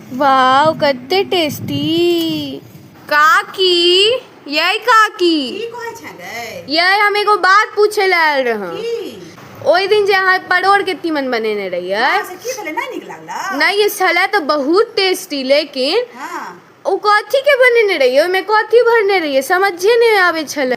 वाव कते टेस्टी काकी ये काकी की कहै छलै ये हम एगो बात पूछे ले आयल रहूं की ओहि दिन जे अहाँ परोड़ के तीमन बनेने रहियै अहाँ से की भेलै नहि नीक लागला नहीं ये छलै तो बहुत टेस्टी लेकिन हँ ओ कथी के बनेने रहियै ओहिमे कथी भरने रहियै समझे नहीं आबे छलै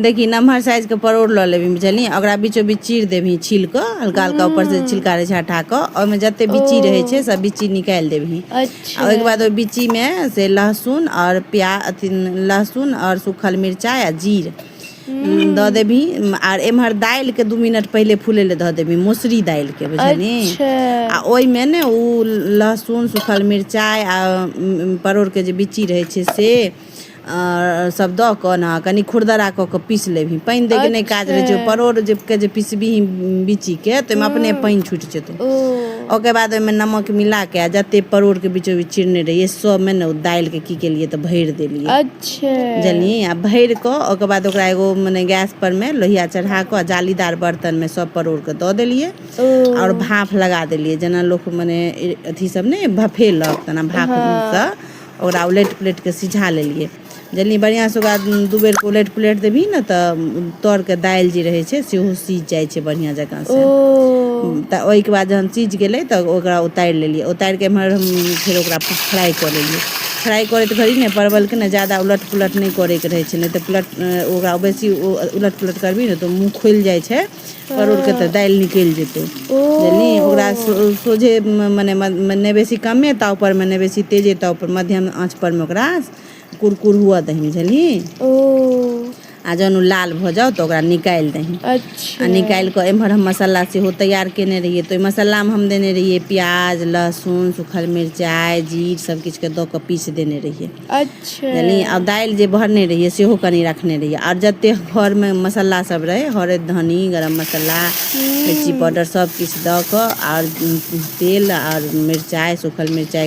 देखी नमहर साइजके परोड़ लऽ लेबही बुझलियै ओकरा बीचो बीच चीर देबही छील कऽ हल्का हल्का ऊपर से छिलका रहै छै हटा कऽ ओहिमे जते बिच्ची रहै छै सब बिच्ची निकालि देबही आ अच्छा ओहिके बाद ओहि बिच्चीमे से लहसुन आओर प्याज अथी लहसुन आओर सूखल मिरचाइ आ जीर दऽ देबही आर एम्हर दालिके दू मिनट पहिले फूलै लए धऽ देबही मौसरी दालिके बुझलिही अच्छा आ ओहिमे ने ओ लहसुन सूखल मिरचाइ आ उम, परोड़के जे बिच्ची रहै छै से आ सब दऽ कऽ ने कनि खुरदरा कऽ कऽ पीस लेबही पानि दै के नहि काज अच्छा रहै छै परोर जे के जे पिसबीही बिची के तऽ ओहिमे अपने हूँ पानि छुटि जेतौ ओ ओकर बाद ओहिमे नमक मिला कऽ आ जतेक परोरके बिचो बिच चिरने रहियै सभमे ने ओ दालिके की केलियै तऽ भरि देलियै अच्छा बुझलियै आ भरि कऽ ओकर बाद ओकरा एगो मने गैस पर मे लोहिया चढ़ा कऽ जालीदार बर्तन मे सब परोर के दऽ देलियै ओ आओर भाफ लगा देलियै जेना लोक मने अथी सब ने भफेलक तेना भाफ हँ सँ ओकरा उलटि पुलटि कऽ सिझा लेलियै जनि बढ़िआँसँ ओकरा दू बेर उलटि पुलटि देबही ने तऽ तरके दालि जे रहै छै सेहो सीझ जाइ छै बढ़िआँ जकाँ ओ तऽ ओहिके बाद जहन सीझ गेलै तऽ ओकरा उतारि लेलियै उतारि कऽ एम्हर हम फेर ओकरा फ्राइ कऽ लेलियै फ्राइ करैत घड़ी ने परवलके ने ज्यादा उलट पुलट नहि करयके रहै छै नहि तऽ पुलट ओकरा बेसी उलट पुलट करबिही ने तऽ मुँह खुलि जाइ छै परोर के तऽ हँ दालि निकलि जेतौ ओ बुझलि ओकरा सोझे मने नहि बेसी कमे ताव पर मे नहि बेसी तेजे ताव पर मध्यम आँच पर मे ओकरा कुरकुर हुअ दही बुझलि ओ आ जहन ओ लाल भऽ जाउ तऽ ओकरा निकालि दही आ अच्छा निकालि कऽ एम्हर हम मसाला सेहो तैयार कयने रहियै तऽ ओहि मसालामे हम देने रहियै प्याज लहसुन सूखल मिरचाइ जीर सभकिछुके दऽ कऽ पीसि देने रहियै अच्छा बुझलियै आ दालि जे भरने रहियै सेहो कनि रखने रहियै आर जते घर मे मसाला सब रहै हरैद धनी गरम मसाला मिर्ची हूँ पाउडर सब किछ दऽ कऽ आओर तेल आओर मिरचाइ सूखल मिरचाइ